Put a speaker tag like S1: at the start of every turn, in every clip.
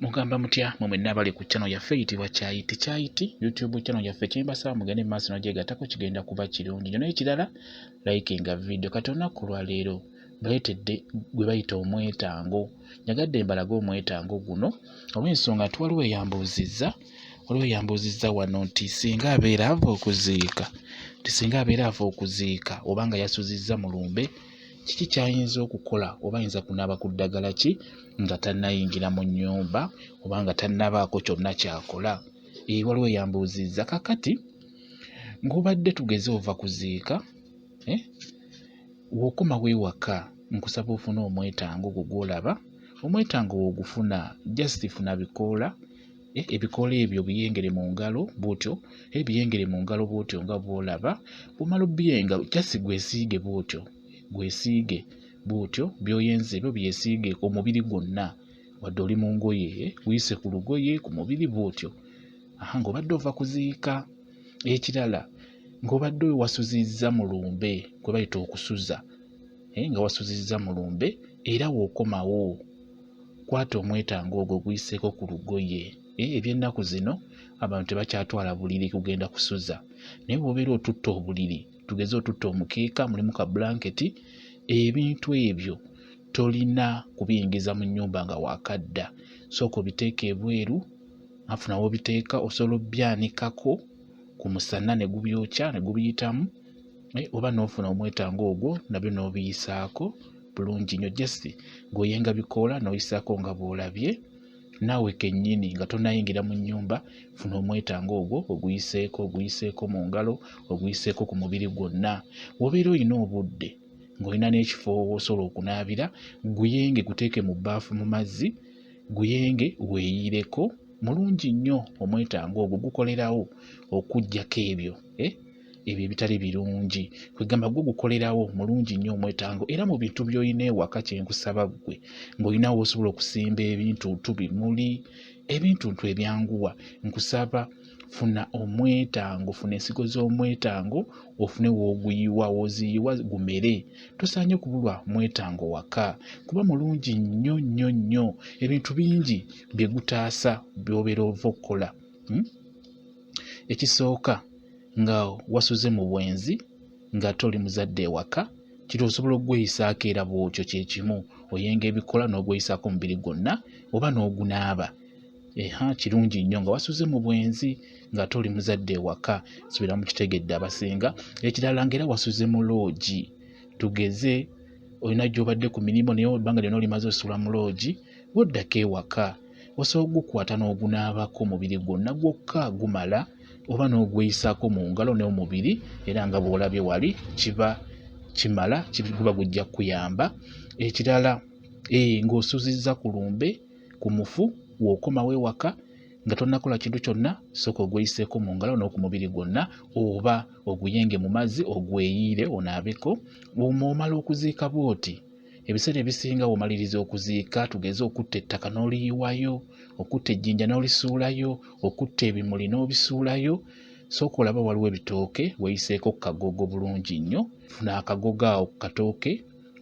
S1: mugamba mutya mwe mwenna abali ku channel yaffe eyitibwa kyayi tikyayiti youtube channel yaffe kyembasaba mugende mu maaso nogyegatako kigenda kuba kirungi nyo n'ekirala likinga video kati olunaku olwaleero baleetedde gwe bayita omwetango nyagadde mbalage omwetango guno olw'ensonga nti waliwo eyambuuzizza waliwo eyambuuzizza wano nti singa abeera ava okuziika nti singa abeera ava okuziika oba nga yasuzizza mu lumbe kiki kyayinza okukola oba ayinza kunaaba ku ddagala ki nga tannayingira mu nnyumba oba nga tannabaako kyonna kyakola ee waliwo eyambuuzizza kakati ng'obadde tugeze ova kuziika eh, wokoma wewaka nkusaba ofune omwetango gwo gwolaba omwetango wogufuna just funa bikoola Eh, ebikoola ebyo biyengere mu ngalo bwotyo eh, biyengere mu ngalo bwotyo nga bwolaba bumala obiyenga jasi gwesiige bwotyo gwesiige bwotyo byoyenze ebyo byesiige omubiri gwonna wadde oli mu ngoye eh, guyise ku lugoye ku mubiri bwotyo aha ng'obadde ova kuziika ekirala ng'obadde owasuzizza mu lumbe kwe bayita okusuza eh, nga wasuzizza mu lumbe era w'okomawo kwata omwetango ogwo guyiseeko ku lugoye eh, eby'ennaku zino abantu tebakyatwala buliri kugenda kusuza naye bwobeera otutta obuliri tugeze otutta omukeeka mulimu ka blanketi ebintu ebyo tolina kubiyingiza mu nnyumba nga wakadda sooka obiteeka ebweru afuna wobiteeka osobola obyanikako ku musana ne gubyokya ne gubiyitamu eh, oba n'ofuna omwetango ogwo nabyo n'obiyisaako bulungi nnyo just ng'oyenga bikoola n'oyisaako nga bw'olabye naawe kennyini nga tonayingira mu nnyumba funa omwetango ogwo oguyiseeko oguyiseeko mu ngalo oguyiseeko ku mubiri gwonna wobeera olina obudde ng'olina n'ekifo osobola okunaabira guyenge guteeke mu bbaafu mu mazzi guyenge weeyireko mulungi nnyo omwetango ogwo gukolerawo okuggyako ebyo eh? ebyo ebitali birungi kwegamba gwe gukolerawo mulungi nnyo omwetango era mu bintu byolina ewaka kyenkusaba ggwe ngaolinawo osobola okusimba ebintu ntu bimuli ebintu ntu ebyanguwa nkusaba funa omwetango funa ensigo z'omwetango ofune woguyiwa woziyiwa gumere tosaanye kubulwa mwetango waka kuba mulungi nnyo nnyo nnyo ebintu bingi byegutaasa byobeera ova okukola hmm? Ekisooka nga wasuze mu bwenzi ng'ate oli muzadde ewaka kiri osobola okugweyisaako era bw'otyo kye kimu oyenga ebikola n'ogweyisaako omubiri gwonna oba n'ogunaaba eha kirungi nnyo nga wasuze mu bwenzi ng'ate oli muzadde ewaka subira mu kitegedde abasinga ekirala ng'era wasuze mu loogi tugeze olina gy'obadde ku mirimu naye ebbanga lyonna olimaze osula mu loogi Bw'oddako ewaka, osobola okugukwata n'ogunaabako omubiri gwonna gwokka gumala oba n'ogweyisaako mu ngalo ne mu mubiri era nga bw'olabye wali kiba kimala guba gujja kukuyamba. Ekirala eh, ng'osuuzizza ku lumbe ku mufu w'okomawo ewaka nga tonnakola kintu kyonna sooka ogweyiseeko mu ngalo n'oku mubiri gwonna oba oguyenge mu mazzi ogweyiire onaabeko omwo omala okuziika bw'oti ebiseera ebisinga womaliriza okuziika tugeze okutta ettaka n'oliyiwayo okutta ejjinja n'olisuulayo okutta ebimuli n'obisuulayo sooka olaba waliwo ebitooke weyiseeko kagogo bulungi nnyo funa akagogo awo ku katooke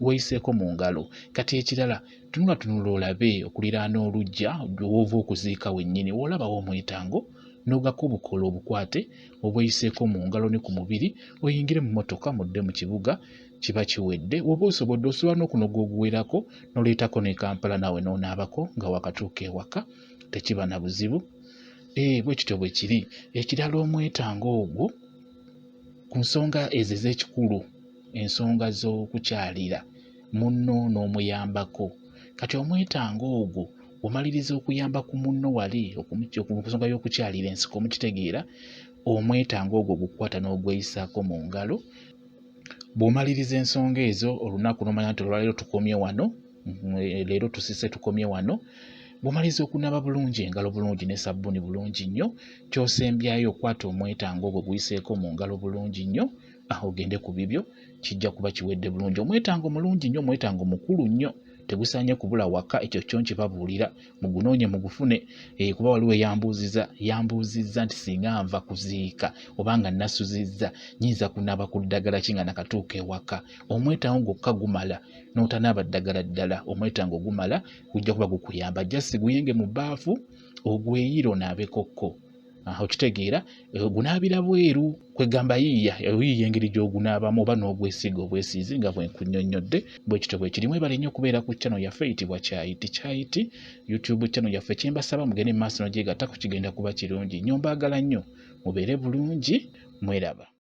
S1: weyiseeko mu ngalo kati ekirala tunula tunula olabe okuliraana olujja woova okuziika wennyini woolabawo omwetango n'ogako obukoola obukwate obweyiseeko mu ngalo ne ku mubiri oyingire mu mmotoka mudde mu kibuga kiba kiwedde woba osobodde osobola n'okunoga oguwerako noleetako ne kampala naawe nonaabako nga wakatuuka ewaka tekiba na buzibu ee eh, bwe kityo bwe kiri ekirala omwetanga ogwo ku nsonga ezo ez'ekikulu ensonga z'okukyalira munno n'omuyambako kati omwetanga ogwo omaliriza okuyamba ku munno wali okunsonga y'okukyalira ensiko mukitegeera omwetanga ogwo gukwata n'ogweyisaako mu ngalo Bw'omaliriza ensonga ezo olunaku n'omanya nti olwaleero tukomye wano, leero tusise tukomye wano. Bw'omaliriza okunaaba bulungi engalo bulungi ne sabbuuni bulungi nnyo, ky'osembyayo okwata omwetango ogwo guyiseeko mu ngalo bulungi nnyo, ah, ogende ku bibyo, kijja kuba kiwedde bulungi. Omwetango mulungi nnyo, omwetango mukulu nnyo, tegusaanye kubula waka, ekyo kyo nkibabuulira. mugunoonye mugufune eh, kuba waliwo eyambuuziza yambuuzizza nti singa nva kuziika oba nga nasuzizza nyinza kunaaba ku ddagala ki nga nakatuuka ewaka omwetango gwokka gumala n'otanaaba ddagala ddala omwetango gumala gujja kuba gukuyamba jasi guyenge mu baafu ogweyire onaabekokko okitegeera eh, ogunaabira bweru kwegamba yiiya oyiiya engeri gy'ogunaabamu oba n'ogwesiiga obwesiizi nga bwenkunyonnyodde bwekityo bwekirimu ebale nnyo okubeera ku channel yaffe eyitibwa kyayiti kyayiti youtube channel yaffe kyembasaba mugende mu maaso nogyegattako kigenda kuba kirungi nnyo mbaagala nnyo mubeere bulungi mweraba